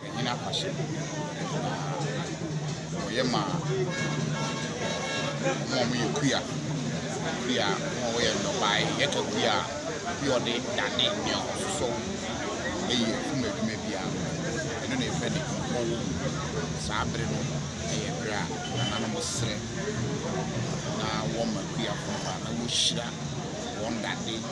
Ɛnyina afahyɛ bi na wɔyɛ ma wɔn a wɔyɛ kua. Kua wɔn a wɔyɛ nnɔbae. Yɛka kua a, obi a ɔde dane nea ɔsosɔ wo mu ayi akum adwuma bi a, ɛno na yɛfrɛ no ɔwɔ mu. Saa bere no yɛ bere a nananom srɛ na wɔma kua kɔba na wɔhyira wɔn dade.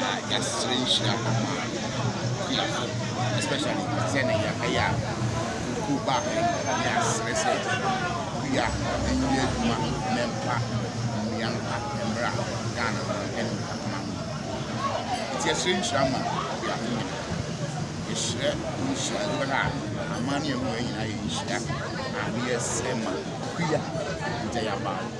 na yɛasrɛ nhyira ama Kuafo especially sɛ na yɛabɛyɛ a ɔkɔ ba ha yi na yɛasrɛ sɛ Kua nyɛ adwuma na mfa nnua mpa mmra Ghana ɛne Mpatoma mu. Nti yɛsrɛ nhyira ma Kua Hene. Yɛhyira nhyira ɛwɔ ha a aman ne ɛmu nyinaa yɛ nhyira a ne yɛsrɛ ma Kua Gyayabaa.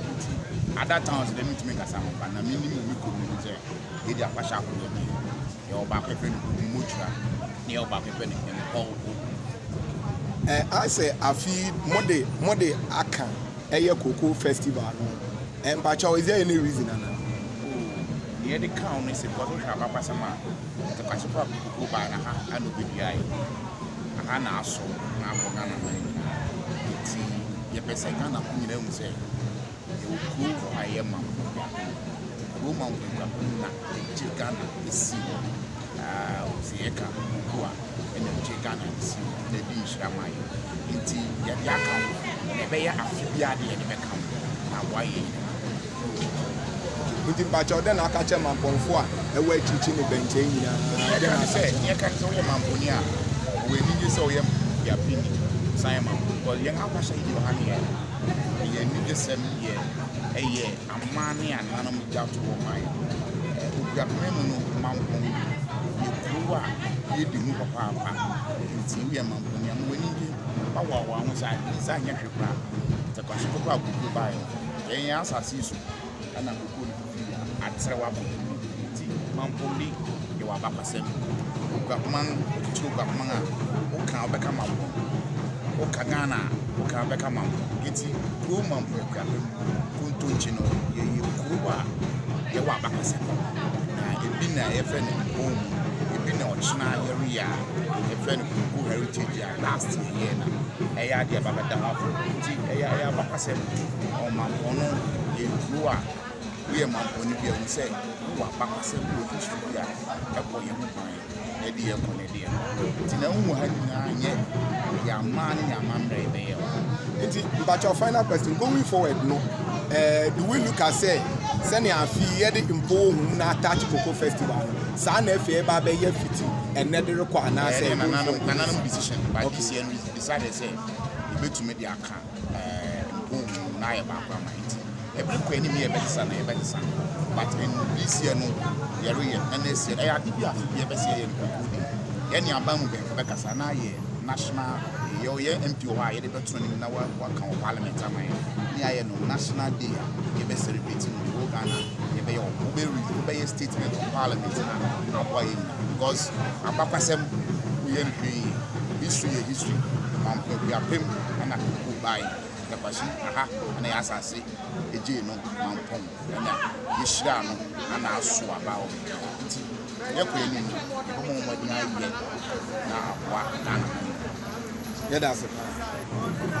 Enti, ada towns deɛ mentumi nkasa ho pa na menim wɔ me kurom no ho sɛ yɛdi afahyɛ ahodoɔ pii. Yɛwɔ baako yɛfrɛ no Ogumotwira na yɛwɔ baako yɛfrɛ no Mpɔlgo. Eh, ayɛ sɛ afe yi mode mode aka ɛyɛ Cocoa Festival no. Eh, mpakyɛw, is there any reason anaa? Nea yɛde kaa ho ne sɛ because wohwɛ abakwasɛm a, sɛ kwashiorkor a kokoo baa na ha ɛna obeduae. Aha na asow na akɔ Ghana man nyinaa. Enti. Yɛpɛ sɛ Ghanafo nyinaa hu sɛ yɛwɔ kurow hɔ a ɛyɛ ma nkurɔfo. Kurow ma nkurɔfo no na egye Ghana si hɔ. Aah sɛ yɛka Opoku a ɛna egye Ghana no si hɔ na ɛde nhyira ma yɛn. Enti yɛde aka ho. Ɛbɛyɛ afe biara de yɛde bɛka ho na aboa yɛn nyinaa. Nti mpakyɛw dɛn na aka akyerɛ mampɔnfo a ɛwɔ akyirikyiri ne bɛnkyɛe nyinaa? Ɛka no sɛ, nea ɛka ne sɛ woyɛ mamponi a ɔwɔ anigye sɛ ɔyɛ Biafrani san yɛ mamponi because yɛn afahyɛ yi deɛ ɔha ne yɛn na yɛn anigyesɛm yɛ ɛyɛ aman ne ananom gya to wɔ man eh, Okuapene mu no mampon yɛ kurow a yɛdi ho papaapa nti woyɛ mamponi ama w'ani gye wawawa ho saa saa nyɛ hwe koraa sɛ kwaso kɔkɔ a kukuo baeɛ no Yɛn yɛn asase yi so na kokoɔ no fifi yɛ atrɛw abɔ nti mampɔmbi yɛ wɔ abakɔsɛm oguaman otitiri oguaman a woka wobɛka mampɔn woka Ghana a woka wobɛka mampɔn nti kuro mampɔn akuapem kontonkye no yɛyɛ kuro a yɛwɔ abakɔsɛm na ebi na yɛfrɛ no mpɔn mu ebi na ɔkyena yɛreyɛ a yɛfrɛ no konko heritage a last year na ɛyɛ adeɛ ɛba bɛda hɔ afɔ nti ɛyɛ ɛyɛ abakasɛm ɔmampɔn no yɛ kuro a woyɛ mampɔn no bi a sɛ wowɔ abakasɛm wɔ history bi a ɛkɔ yɛ ho ban ɛde yɛ kɔ n'adeɛ nti na wohu ha nyinaa nyɛ yɛ amaa ne yɛ amaa mmerɛ ɛbɛyɛ hɔ nti mpakyɛ final question going forward no uh, do we look at say sɛnea afi yɛde mpɔwɔ hum na attach koko festival no Saa na afei ɛba abɛyɛ fiti ɛnnɛ de rekɔ anaasɛ ɛyɛ nananom nananom decision but okay. this year we decided sɛ yɛbɛtumi de aka mpɔn mu na ayɛ baako ama nti ɛbere kɔ anim yɛ bɛtesa na yɛbɛtesa but in this year no yɛreyɛ na next year ɛyɛ ade bi a yɛbɛsɛ yɛyɛ no kɔkɔɔ de yɛne aban mu bɛnfo bɛkasa na ayɛ National yɛ ɔyɛ MP wɔ hɔ a yɛde bɛto anim na waka wɔ parliament ama yɛn ne ayɛ no national day a yɛbɛ celebrate no the whole Ghana yɛbɛyɛ wɔ wobɛ read wobɛyɛ statement wɔ parliament na aboa yɛn nyinaa because abakwasɛm woyɛ no hwee yie history yɛ history mampo akuapem ɛna kuku bae takwasi aha ɛna yɛ asase egyee no mampɔn ɛna yɛhyiraa no ɛna aso aba wɔ nti Yɛkɔ anim no, yɛbɛbɔ mmɔden ayɛ na aboa Ghana. Yɛda ase paa.